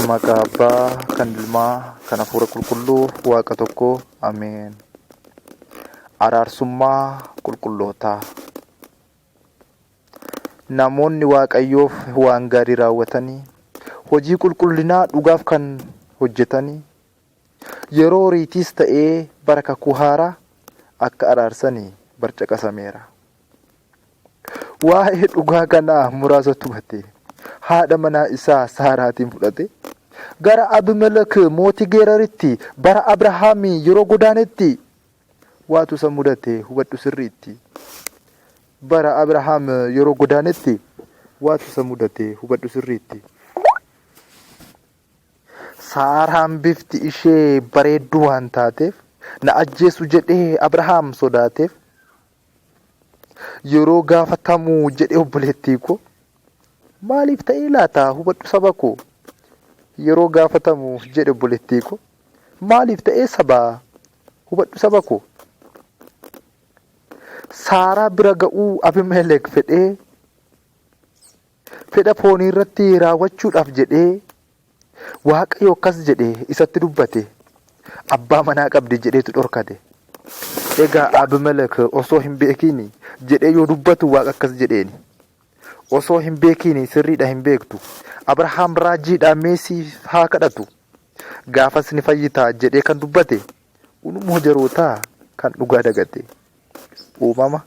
Maqaa Abbaa, kan Ilmaa, kan Hafuura Qulqulluu, Waaqa tokko. Ameen. Araarsummaa qulqullootaa. Namoonni Waaqayyoof waan gaarii raawwatanii, hojii qulqullinaa dhugaaf kan hojjetanii, yeroo horiitiis ta'ee bara kakuu haaraa akka araarsanii barcaqasameera. Waa'ee dhugaa kanaa muraasa tumatee, haadha manaa isaa Saaraatiin fudhate. Gara Abimelek mootii Geeraritti bara Abrahaam yeroo godaanetti waatu isa mudate hubadhu sirriitti. Bara Abrahaam yeroo godaanetti waatu isa mudate hubadhu sirriitti. Saaraan bifti ishee bareedduu waan taateef na ajjeesu jedhee Abrahaam sodaateef. yeroo gaafatamu jedhe obboleettii koo maaliif ta'ee laata hubadhu saba koo yeroo gaafatamu jedhe obboleettii koo maaliif ta'ee saba hubadhu saba koo saaraa bira ga'uu abimelek fedhee Fedha foonii irratti raawwachuudhaaf jedhee Waaqayyo akkas jedhe isatti dubbate, abbaa manaa qabdi jedheetu dhorkate. Egaa Abimelek osoo hin beekiin jedhee yoo dubbatu Waaqa akkas jedheeni. Osoo hin beekiin sirriidha hin beektu. Abrahaam raajiidha mee siif haa kadhatu. Gaafas ni fayyitaa jedhee kan dubbate Unumoo jarootaa kan dhugaa dagate. Uumama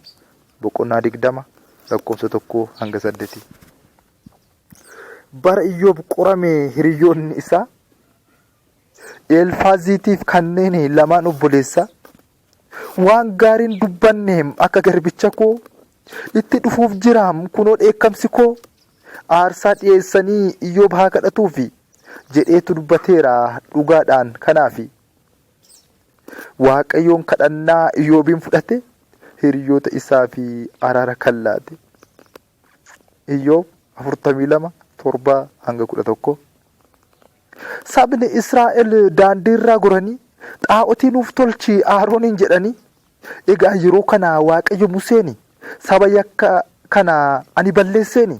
boqonnaa digdama lakkoofsa tokkoo hanga saddetii. Bara Iyyoob qorame hiriyoonni isaa Eelfaaziitiif kanneen lamaan obboleessaa waan gaariin dubbanne akka garbicha koo itti dhufuuf jiraam kunoo dheekkamsi koo aarsaa dhiyeessanii Iyyoob haa kadhatuufi jedheetu dubbateera dhugaadhaan kanaafi Waaqayyoon kadhannaa Iyyoobiin fudhate hiriyoota isaa fi araara kan laate. Iyyoob 42 7 hanga 11. Sabni Israa'el daandiirraa goranii xaa'otii nuuf tolchi Aarooniin jedhanii. Egaa yeroo kana Waaqayyo Museeni saba yakka kana ani balleesseeni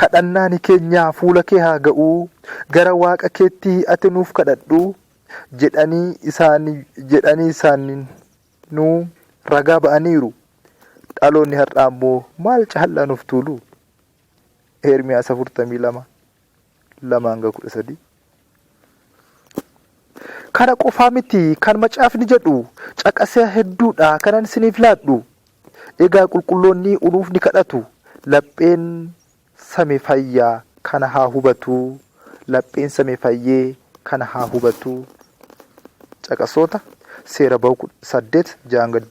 Kadhannaani keenna fuula kee haa ga'u, gara Waaqa keetti ati nuuf kadhadhu jedhani jedhani isaaninu ragaa ba'aniiru. Dhaloonni har'aa immoo maal caallaa nuuf tuulu? Eermiyaas 42. 2 hanga 13. Kana qofaa miti kan macaafni jedhu caqasa hedduudha kanan isiniif laadhu. Egaa qulqulloonni unuuf ni kadhatu. Lapheen same fayya kana haa hubatu. Lapheen same fayyee kana haa hubatu. Caqasoota Seera Bahu 8 6 hanga